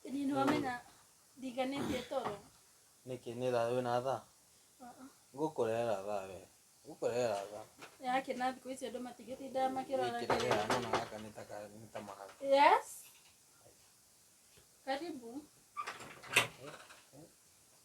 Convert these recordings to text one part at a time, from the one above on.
Ĩni nĩ wamenya ndinganĩtie toro. Nĩkĩ nĩ thaa wĩna thaa? Ngũkũrehera thaa we. Ngũkũrehera thaa. Yake na thikũ ici andũ matigĩtindaga makĩrora. Gĩkĩra gĩa nona gaka nĩ ta ka nĩ ta mahaka. Yes. Karibu.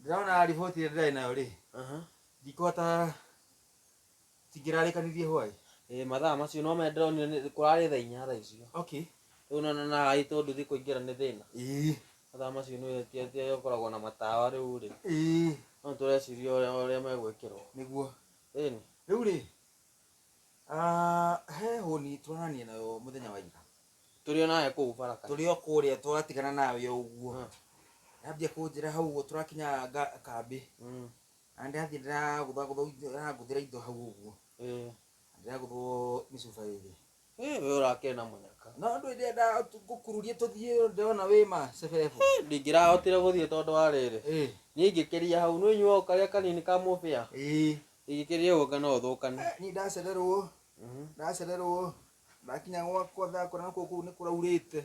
ndĩrona riboti ĩrĩa ndĩrarĩ nayo rĩ Aha. ndikũhota tingĩrarĩkanirie hwaĩ Eh, mathaa macio no mende ndĩronire nĩ- kũrarĩ thaa inya thaa icio okay rĩu na na aĩ tondũ thiĩ kũingĩra nĩ thĩna ĩĩ mathaa macio nĩ ti- ti arĩa ũkoragwo na matawa rĩu rĩ ĩĩ no tũreciria ũrĩa ũrĩa megwĩkĩrwo nĩguo ĩni rĩu rĩ ah, he hũni tũranania nayo mũthenya wa ira tũrĩ o nawe kũu baraka tũrĩ o kũrĩa twatigana nawe o ũguo Mm. ndambia kũnjĩra hau ũguo tũrakinya nga- kambĩ Mm, na ndĩrathiĩ ndĩragũthagũthĩra indo hau ũguo eh. ndĩragũthwo mĩcuba ĩrĩ Eh, we ũrakena mũnyaka no andũ ĩrĩa ndagũkururie tũthiĩ ndĩrona wĩ ma cebebu Eh, ndingĩrahotire gũthiĩ tondũ wa rĩrĩ ĩĩ niĩ ingĩkĩria hau nĩ inyuo karĩa kanini ka mũbĩa ĩĩ ingĩkĩria ũguo ngana ũthũkane niĩ ndacererwo Mhm. ndacererwo ndakinya gwakwa ndakora nakwo kũu nĩ kũraurĩte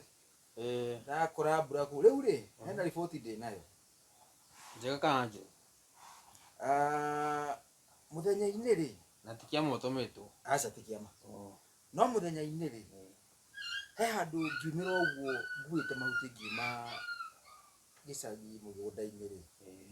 Eh, ndakora mbura kũu rĩu rĩ hena riboti ndĩ nayo njega kana njũru Ah, mũthenya-inĩ rĩ na ti kĩama ũtũmĩtwo aca ti kĩama Oh, no mũthenya-inĩ rĩ he handũ ngiumĩra ũguo nguĩte mahuti ngiuma gĩcagi mũgũnda-inĩ rĩ eh,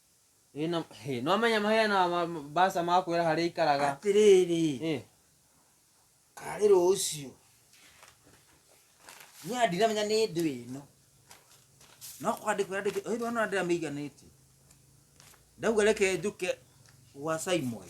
Ĩ, na- hĩ, nĩwamenya mahĩa na ma- mbaca makwĩra harĩa ikaraga atĩrĩrĩ Ĩ, karĩ rũciũ niĩ ndiramenya nĩ ndũ ĩno no kwandĩkwo yandĩkĩte ũyũ ndona ndĩramĩiganĩtie ndauga reke njũke gwa simon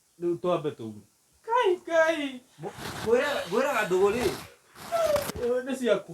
Rĩu twambe tume. Kai kai. Ngwĩraga ndũgũ rĩ. Nĩ ciaku.